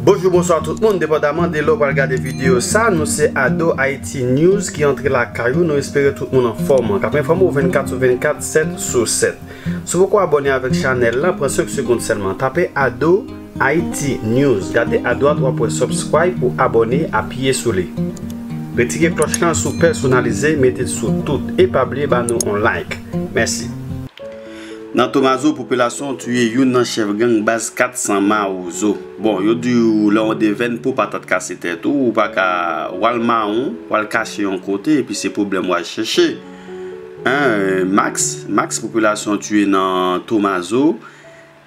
Bonjou, bonswa tout moun, depandaman de lè ou pral gade videyo sa, nou se Ado Haïti News ki antre lakay ou, nou espere tout moun anfòm, kap enfòme ou 24 sou 24, 7 sou 7. Si w poko abòne avèk chanèl la, pran 5 segond sèlman, tape Ado. Haïti News gade adwat wap wè subscribe ou abonné apiye sou li retire klòch lan sou pèsonalize metel sou tout e pa bliye ba nou on like mèsi. Nan tomazo popilasyon tuye youn nan chèf gang baz 400 mawozo bon yo diw lè ou devèn pouw patat kase tèt ou ou paka wal mawon wal kache yon kote epi se pwoblèm wal chèche hein max max popilasyon tuye nan tomazo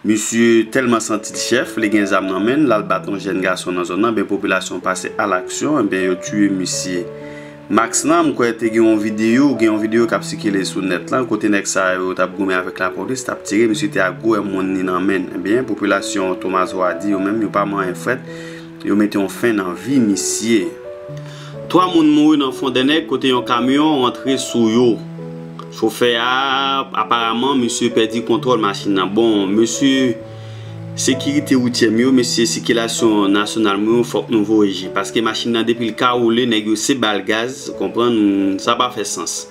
Misye tèlman santil chèf li gen zam nan menn lal bat yon jèn gason nan zòn nan ben popilasyon pase al aksyon enben yo tiye misye Max lan m kwè te gen yon video gen yon video kap sikile sou nèt lan kote nèg sa yo tap goumen avèk lapolis tap tire misye te ak gwo èmwonn li nan menn enben popilasyon Thomas Hardy yo menm yo pa manyen frèt Yo mete yon fen nan vi misye. 3 moun mouri nan Fondènèg kote yon kamyon rantre sou yo. Chofè a, aparaman, misye pèdi kontwòl machin nan. Bon, mesye sekirite woutyè m yo, mesye sikilasyon nasyonal m yo, fòk nou voye je. Paske machin nan depi l ka woule, nèg yo se ba l gaz, ou konprann, sa pa fè sans.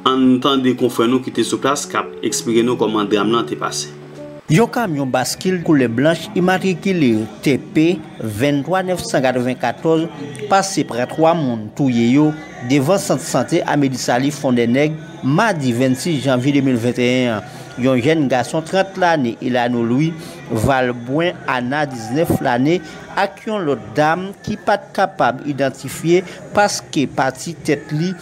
Ann tande konfrè nou ki te sou plas k ap eksplike nou kòman dram lan te pase. Yon kamyon baskil koulè blanch imatrikile TP 23 994 pase pran 3 moun touye yo devan sant sante Amedisali Fondènèg madi 26 janvye 2021 an. Yon jèn gason 30 lane Elano Louis Valbrun Anna 19 lane ak yon lòt dam ki pat kapab idantifye paske pati tèt li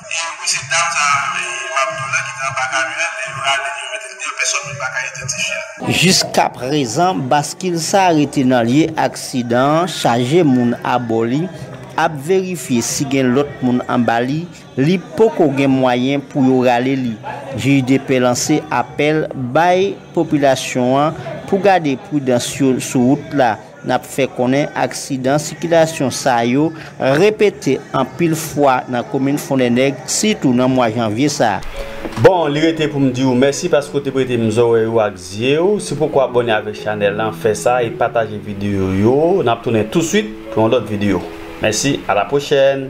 Epi mesye dam sa map diw la ki te anba kamyonèt lè yo rale li yo mete li deyò pèsòn menm paka idantifyel. Jiskaprezan baskil sa rete nan lye aksidan an chaje moun abò li ap verifye si gen lòt moun anba li, li poko gen mwayen pou yo rale li. GIDP lanse apèl bay popilasyon an pou gade pridans yo sou wout la. N ap fè konnen aksidan sikilasyon sa yo repete anpil fwa nan komin Fondènèg, sitou nan mwa janvye sa a. Bon, li rete pou m di ou mèsi paske ou te prete m zòrèy ou ak zye ou. Si w poko abòne avèk chanèl lan, fè sa e pataje videyo yo. N ap tounen touswit pou yon lòt videyo. Mèsi, alapwochèn!